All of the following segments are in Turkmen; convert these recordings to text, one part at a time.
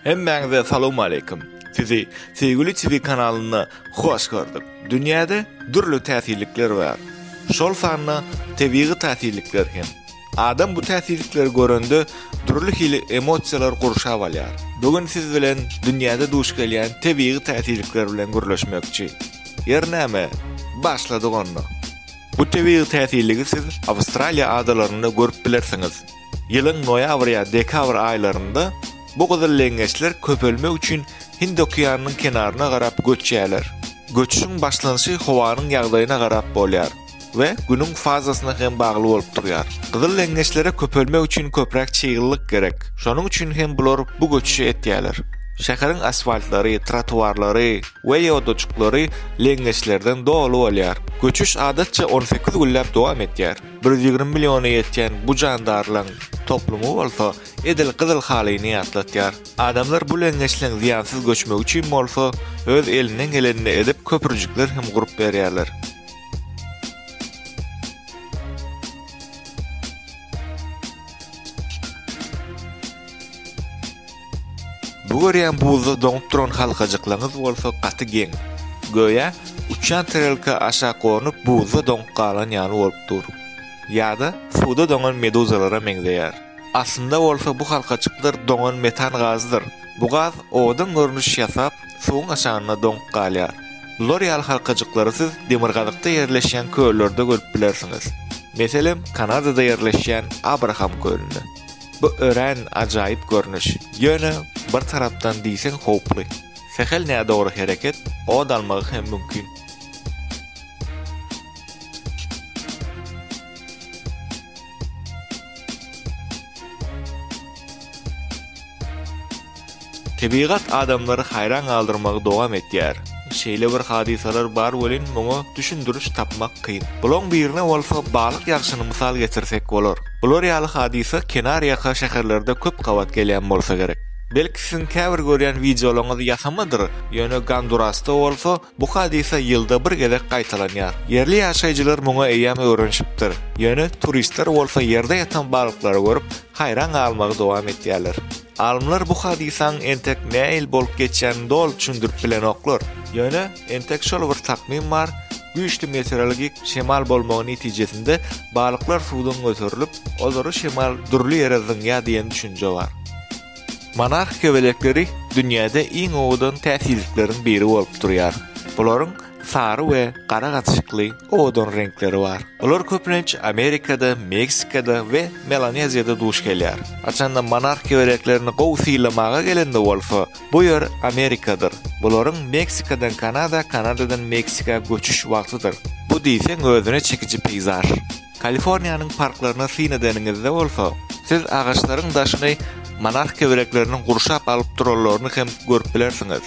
Hemmäňize salawmaleýkim. Sizi Söýgüli TV kanalynda hoş gördük. Dünýäde dürli täsirlikler bar. Şol sanda tebigy täsirlikler hem. Adam bu täsirlikleri görende dürli hili emosiýalar gurşap alýar. Bu gün siz bilen dünýäde duş gelýän tebigy täsirlikler bilen gürleşmekçi. Ýeri näme, başladyk onda. Bu tebigy täsirligi siz Awstraliýa adalarynda görüp bilersiňiz. Ýylyň noýabr ýa dekabr aýlarynda bu gyzyl leňňeçler köpelmek üçin Hind okeanynyň kenaryna garap göçýärler. Göçüşiň başlanyşy howanyň ýagdaýyna garap bolýar we Günüň fazasyna hem bagly bolup durýar. Gyzyl leňňeçlere köpelmek üçin köpräk çyglylyk gerek, şonuň üçin hem bular bu göçüşi etýärler. Şäheriň asfaltlary, trotuarlary we ýodajyklary leňňeçlerden doly bolýar. Göçüş adatça on sekiz günläp dowam etýär. Bir ýüz ýigrimi milliona ýetýän bu jandarlaryň toplumy bolsa edil gyzyl halyny ýatlatýar. Adamlar bu leňňeçleň zyýansyz göçmegi üçin bolsa öz elinden gelenini edip köprüjikler hem gurup berýärler. Bu görýän buzda doňup duran halkajyklaňyz bolsa gaty geň. Göýä, uçýan tarelka aşak gonup buzda doňup galan ýaly bolup dur. Ýa-da suwda doňan meduzalara meňzeýär. Aslynda bolsa bu halkajyklar doňan metan gazydyr. Bu gaz owadan görnüş ýasap, suwuň aşagynda doňup galýar. Bular ýaly halkajyklary siz demirgazykda ýerleşýän köllerde görüp bilersiňiz. Meselem, Kanadada ýerleşýän Abraham kölünde. Bu örän ajaýyp görnüş, ýöne bir tarapdan diýseň howply. Sähel nädogry hereket od almagy hem mümkin. Tebigat adamlary haýran galdyrmagy dowam etýär. Şeýle bir hadysalar bar welin, muňa düşündiriş tapmak kyn. Bulaň birine bolsa balyk ýagşyny mysal getirsek bolar. Bular ýaly hadysa kenarýaka şäherlerde köp gabat gelýän bolsa gerek. Belki siziň käbir görýän wideolaryňyz ýasamadyr, ýöne Gondurasda bolsa bu hadysa ýylda bir gezek gaýtalanýar. Ýerli ýaşaýjylar muňa eýýäm öwrenişipdir. Ýöne turistler bolsa ýerde ýatan balyklary görüp, haýran galmagy dowam etýärler. Alymlar bu hadysaň entek näil bolup geçýänini doly düşündirip bilenoklar. Ýöne, entek şol bir takmym bar, güýçli meteorologik şemal bolmagy netijesinde balyklar suwdan göterilip, olary şemal dürli ýere zyňýar diýen düşünje bar. Monarh kebelekleri dünýäde iň owadan täsirlikleriň biri bolup durýar. Bularyň Sary we gara gatyşykly owadan reňkleri bar. Olar köplenç Amerikada, Meksikada we Melaneziýada duş gelýär. Haçanda monarh kebereklerini gowy sylamaga gelende bolsa, bu ýer Amerikadyr. Bularyň Meksikadan Kanada, Kanadadan Meksika göçüş wagtydyr. Bu diýseň özüne çekiji peýzaž. Kaliforniýanyň parklaryna syn edeniňizde bolsa, siz agaçlaryň daşyny monarh keberekleriniň gurşap alyp duranlaryny hem görüp bilersiňiz.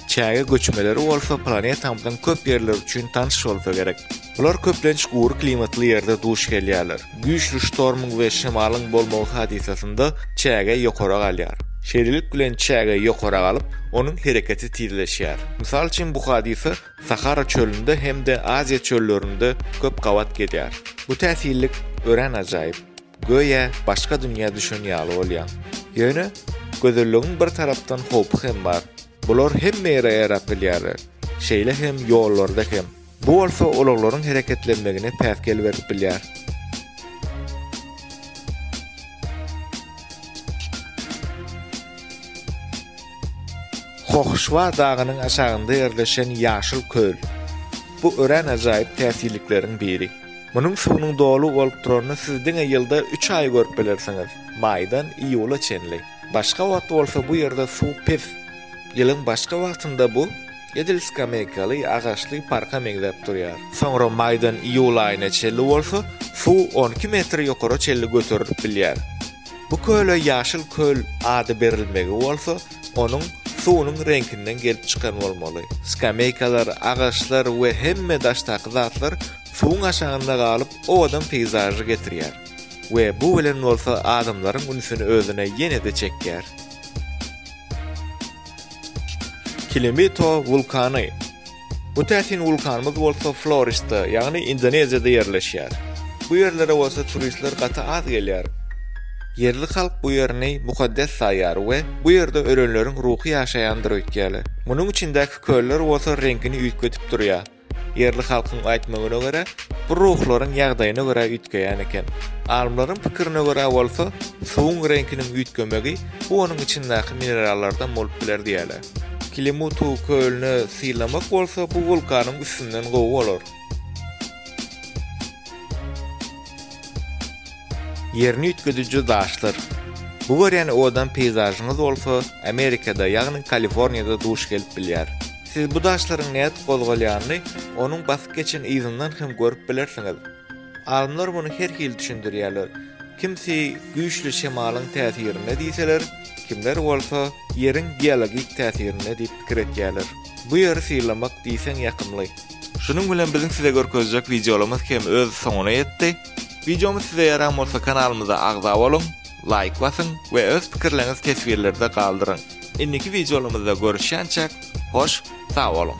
Çäge göçmeleri bolsa planetamyzyň köp ýerleri üçin tanyş bolsa gerek. Bular köplenç gury klimatly ýerde duş gelýärler. Güýçli ştormyň we şemalyň bolmagy hadysasynda çäge ýokara galýar. Şeýlelik bilen çäge ýokara galyp, onuň hereketi tizleşýär. Mysal üçin bu hadysa Sahara çölünde hem-de Aziýa çöllerinde köp gabat gelýär. Bu täsinlik örän ajaýyp. Göýä, başga dünýä düşen ýaly bolýaň. Ýöne, gözelligiň bir tarapdan howpy hem bar. Bular hemme ýere ýaýrap bilýärler. Şeýle hem ýollarda hem. Bu bolsa ulaglaryň hereketlenmegine päsgel berip bilýär. Hohşwa dagynyň aşagynda ýerleşen ýaşyl köl. Bu örän ajaýyp täsirlikleriň biri. Munuň suwunyň doly bolup duranyny siz diňe ýylda üç aý görüp bilersiňiz, maýdan iýula çenli. Başga wagt bolsa bu ýerde suw pes. Ýylyň başga wagtynda bu edil skameýkaly agaçly parka meňzäp durýar. Soňra maýdan iýul aýyna çenli bolsa suw on iki metr ýokara çenli göterilip bilýär. Bu köle Ýaşyl köl ady berilmegi bolsa Onuň suwunyň reňkinden gelip çykan bolmaly. Skameýkalar, agaçlar we hemme daşdaky zatlar suwuň aşagynda galyp, owadan peýzažy getirýär we bu bilen bolsa adamlaryň ünsüni özüne ýene-de çekýär. Kilimito wulkany. Bu täsin wulkanymyz bolsa Florista, ýagny Indoneziýada ýerleşýär. Bu ýerlere bolsa turistler gaty az gelýär. Ýerli halk bu ýerini mukaddes saýýar we bu ýerde ölenleriň ruhy ýaşaýandyr öýtýärler. Munuň içindäki köller bolsa reňkini üýtgedip durýar. Ýerli halkyň aýtmagyna görä, bu ruhlaryň ýagdaýyna görä üýtgeýän eken. Alymlaryň pikirine görä bolsa, suwuň reňkiniň üýtgemegi bu onuň içindäki minerallardan bolup biler diýýärler. Kilimutu kölüne sylamak bolsa bu wulkanyň üstünden gowy bolar. Ýerini üýtgediji daşlar. Bu görýän owadan peýzažyňyz bolsa Amerikada, ýagny Kaliforniýada duş gelip bilýär. Siz bu daşlaryň nädip gozgalýanyny onuň basyp geçen yzyndan hem görüp bilersiňiz. Alymlar muny her hili düşündirýärler. Kimsi güýçli şemalyň täsirinde diýseler, kimler bolsa Ýeriň geologik täsirinde diýip pikir etýärler. Bu Ýeri sylamak diýseň ýakymly. Şunuň bilen biziň size görkezjek wideolarymyz hem öz soňuna ýetdi. Wideomyz size ýaran bolsa kanalymyza agza boluň, laýk basyň we öz pikirleriňizi teswirlerde galdyryň. Indiki wideolarymyzda görüşýänçäk hoş sag boluň.